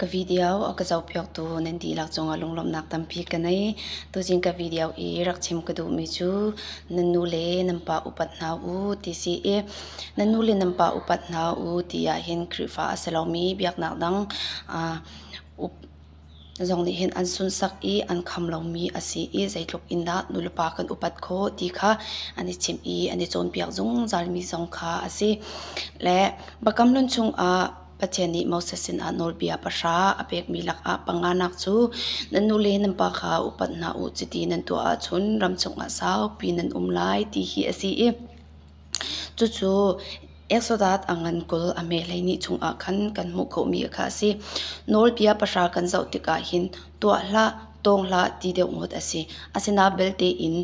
Ka video a ka zohpiaktu nan dihlak cungah lunglawmhnak tampi ka ngei. Tuzing ka video i rak chim ka duhmi cu nan nu le nan pa upat hna u ti si i nan nu le nan pa upat hna u ti ahhin Khrihfa a si lomi biaknak dang aa Zong nih hin an sunsak i an kham lomi a si i zeitluk in dah nulepa kan upat khawh ti kha an i chimh i an i cawnpiak zungzalmi zong kha a si. Le Biakamhlun chungah Pathian nih Moses sinah nawlbia pahra a pekmi lakah panganak cu nan nu le nan pa kha upat hna u chiti nan tuah ahcun ram chungah saupi nan um lai ti hi a si i Cucu Exodus a ngan kul a hme hleihnih chungah khan kan hmuh khawhmi kha a si. Nawlbia pahra kan zoh tikah hin tuah hlah, tawng hlah ti deuh ngawt a si. Asinain belte in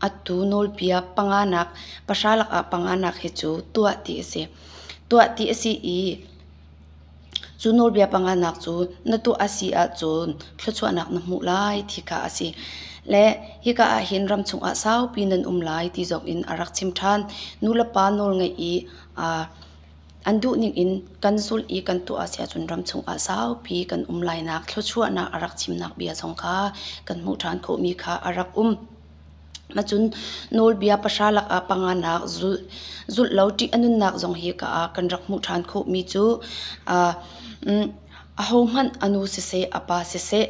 atu nawlbia panganak pahra lakah panganak hi cu tuah ti a si. Tuah ti a si i Cu nawlbia panganak cu na tuah a si ahcun thluachuahnak na hmuh lai ti kha a si. Le hika ah hin ram chungah saupi nan um lai ti zong in a rak chim ṭhan. Nu le pa nawl ngaih i aa an duh ningin kan zulh i kan tuah a si ahcun ram chungah saupi kan um lainak thluachuahnak a rak chimnak bia zong kha kan hmuh ṭhan khawhmi kha a rak um. Macun nawlbia pahra lakah panganak zulh law ṭih a nunnak zong hi ka ah kan rak hmuh ṭhan khawhmi cu ahohmanh a nu siseh a pa siseh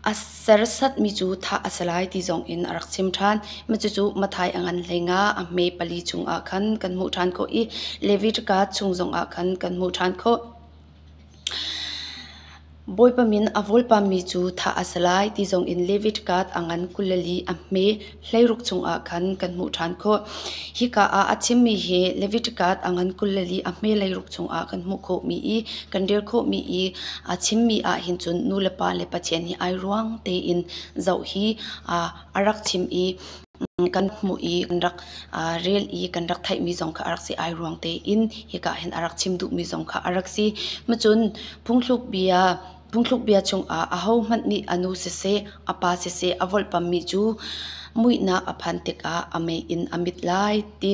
a sersatmi cu thah a si lai ti zong in a rak chim ṭhan. Cucu Matthai a ngan hleinga a hme pali chungah khan kan hmuh ṭhan khawh i Levi ṭaka chung zongah khan kan hmuh ṭhan khawh. Bawipa min a vawlpammi cu thah a si lai ti zongin David Gad a ngan kulel i a hme hleiruk chungah khan kan hmuh ṭhan khawh. Hika ah a chimmi hi David Gad a ngan kulel i a hme hleiruk chungah kan hmuh khawhmi i kan rel khawhmi i a chimmi ah hin cun nulepa le Pathian hi ai ruang tein zoh hi a rak chim i kan hmuh i kan rak rel i kan rak theihmi zong kha a rak si ai ruang tein hika hin a rak chim duhmi zong kha a rak si. Macun phungthluk bia phungthluk bia chungah ahohmanh nih a nu siseh a pa siseh a volhpammi cu muihnak a phan tikah a mei in a mit lai ti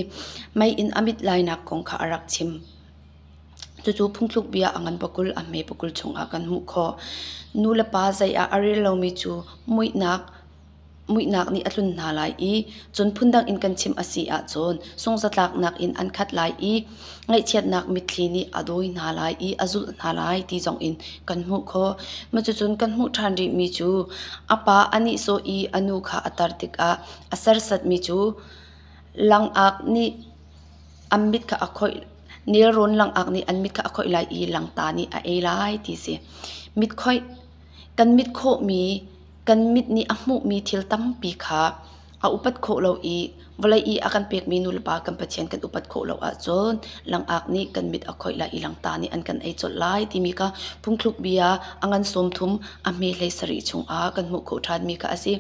mei in a mit lainak kong kha a rak chim. Cucu phungthluk bia a ngan pakul a hme pakul chungah kan hmuh khawh. Nu le pa zei ah a rel lomi cu muihnak Muihnak nih a tlun hna lai i cun phundang in kan chim a si ahcun sunghzatlaknak in an khat lai i ngaihchiatnak mitthli nih a dawi hna lai i a zulh hna lai ti zong in kan hmuh khawh. Cucun kan hmuh ṭhan rihmi cu a pa a nihsawh i a nu kha a tar tikah a sersatmi cu langak nih an mit kha a khoih, nelrawn langak nih an mit kha a khoih lai i langta nih a ei lai ti a si. Mit khoih, kan mit khawhmi Kan mit nih a hmuhmi thil tampi kha a upat khawh lo i vawlei i a kan pekmi nulepa kan Pathian kan upat khawh lo ahcun langak nih kan mit a khoih lai i langta nih an kan ei colh lai timi kha phungthluk bia a ngan sawm thum a hme hlei sarih chungah kan hmuh khawh ṭhanmi kha a si.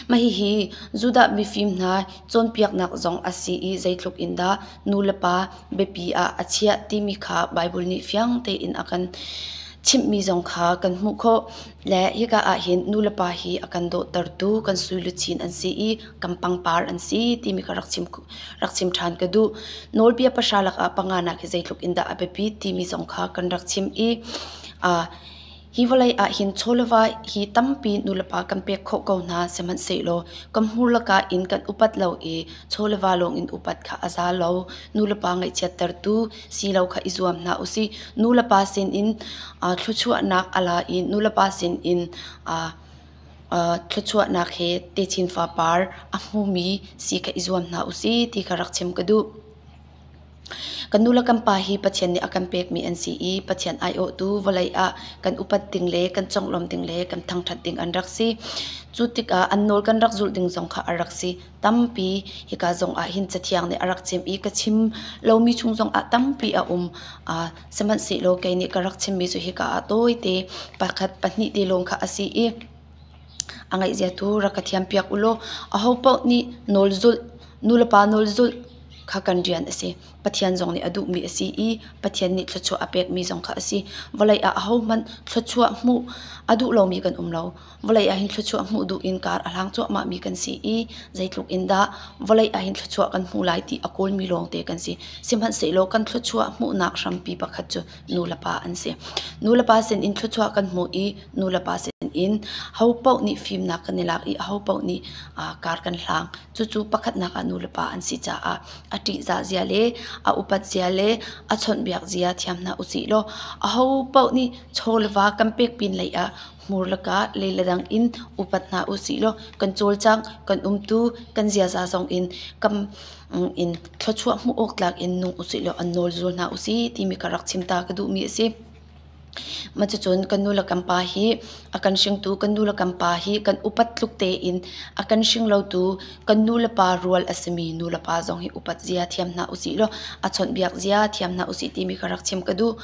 Mah hihi Judah mifim hna cawnpiaknak zong a si i zeitluk in dah nulepa biapi ah a chiah timi kha Baibal nih fiang tein a kan chimhmi zong kha kan hmuh khawh. Le hika ahhin nulepa hi a kan dawhtertu kan suiluchin an si i kan pangpar an si timi kha rak chim rak chim ṭhan ka duh. Nawlbia pahra lakah panga nak hi zeitluk in dah a biapi timi zong kha kan rak chim i uh, hi vawlei ah hin chawleva hi tampi nulepa kan pek khawh ko hna sihmanhsehlaw kan hmur laka in kan upat lo i chawleva lawng in upat kha a za lo. Nulepa ngaihchiattertu si lo kha i zuam hna u sih. Nulepa sinin aa thluachuahnak a la i nulepa sinin aa aa thluachuahnak he techin fapar a hmumi si kha i zuam hna u sih ti kha rak chim ka duh. Kan nu le kan pa hi Pathian nih a kan pekmi an si i Pathian aiawhtu vawlei ah kan upat ding le kan conglawm ding le kan thangṭhat ding an rak si. Cu tikah an nawl kan rak zulh ding zong kha a rak si. tampi hika zong ah hin cathiang nih a rak chim i ka chim lomi chung zong ah tampi a um. Uh, sihmanhsehlaw kei nih ka rak chimmi cu hika ah tawite pakhat pahnih te lawng kha a si i a ngeihzia tu rak ka thiam piak u law aho paoh nih nawl zulh nulepa nawl zulh kha kan rian a si. Pathian zong nih a duhmi a si i Pathian nih thluachuah a pekmi zong kha a si. Vawlei ah ahohmanh thluachuah hmuh a duh lomi kan um lo. Vawlei ahhin thluachuah hmuh duh in kar a hlang cuahmahmi kan si i zeitluk in dah vawlei ahhin thluachuah kan hmu lai ti a kawlmi lawngte kan si. Sihmanhsehlaw kan thluachuah hmuhnak hrampi pakhat cu nulepa an si. Nulepa sinin thluachuah kan hmuh i nulepa sinin hopaoh nih fimnak kan i lak i hopaoh nih kar kan hlang. Cucu pakhatnak ah nulepa an si caah a ṭihzah zia le a upat zia le a chawnhbiak zia thiam hna usih law ahopaoh nih chaw le va kan pek pin lei ah Hmur lakah leile dang in upat hna usih law kan cawlcang, kan umtu, kan ziaza zong in kam in thluachuah hmuh awk tlak in nung usih law an nawl zul hna usih timi ka rak chim ta ka duhmi a si. Macucun kan nu le kan pa hi a kan hringtu kan nu le kan pa hi kan upat tluk tein a kan hringlotu kan nu le pa rual a simi nu le pa zong hi upat zia thiam hna usih law a chawnhbiak zia thiam hna usih timi ka rak chim ka duh.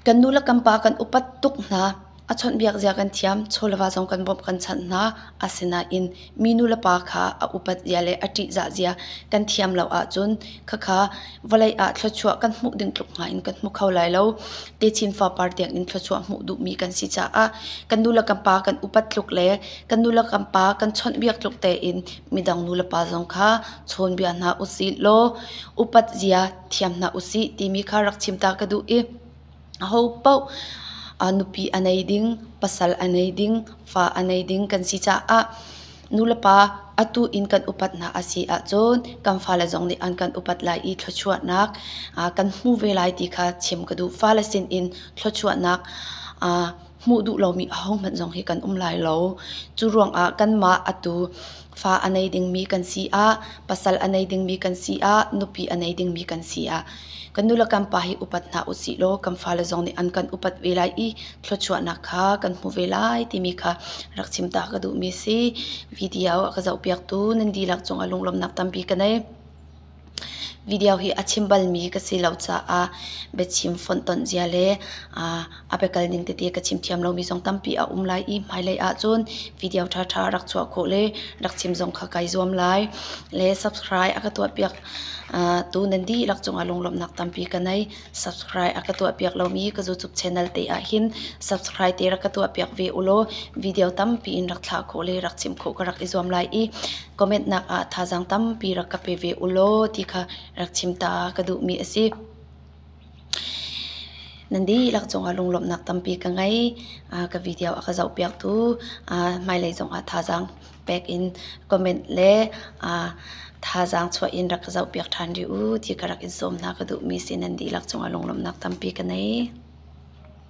Kan nu le kan pa kan upat tuk hna. A chawnhbiak zia kan thiam, chawleva zong kan bawmh kan chanh hna. Asinain minu le pa kha a upat zia le a ṭihzah zia kan thiam lo ahcun khakha vawlei ah thluachuah kan hmuh ding tluk hnga in kan hmu kho lai lo. Techin fapar tiangin thluachuah hmuh duhmi kan si caah kan nu le kan pa kan upat tluk le kan nu le kan pa kan chawnhbiak tluk tein midang nu le pa zong kha chawnbia hna usih law upat zia thiam hna usih timi kha rak chim ta ka duh i aho paoh nupi a nei ding pasal a nei ding fa a nei ding kan si caah nulepa atu in kan upat hna a si ahcun kan fale zong nih an kan upat lai i thluachuahnak kan hmu ve lai ti kha chim ka duh fale sin in thluachuahnak hmuh duh lomi ahohmanh zong hi kan um lai lo. Cu ruangah kanmah atu fa a nei dingmi kan si ah, pasal a nei dingmi kan si ah, nupi a nei dingmi kan si ah, kan nu le kan pa hi upat hna usih law kan fale zong nih an kan upat ve lai i thluachuahnak kha kan hmu ve lai timi kha rak chim ta ka duhmi a si. Video a ka zohpiaktu nan dihlak cung ah lunglawmhnak tampi ka ngei. Video hi a chim balmi ka si lo caah biachim fonhtonh zia le a biakal ning tete ka chim thiam lomi zong tampi a um lai i hmailei ahcun video ṭhaṭha rak chuah khawh le rak chim zong kha kai zuam lai. Le subscribe a ka tuahpiak tu nan dihlak cungah lunglawmhnak tampi ka ngei. Subscribe a ka tuahpiak lomi ka YouTube channel te ah hin subscribe te rak ka tuahpiak ve u law video tampi in rak thlah khawh le rak chim khawh ka rak i zuam lai i comment nak ah thazaang tampi rak ka pe ve u law ti kha rak chim ta ka duhmi a si. Nandi lak cungah lunglawmhnak tampi ka ngei. ka video a ka zohpiaktu hmailei zongah thazaang pek in comment le aa thazaang chuah in rak ka zohpiak ṭhan rih u ti ka rak in sawm hna ka duhmi si nan dihlak cung ah lunglawmhnak tampi ka ngei.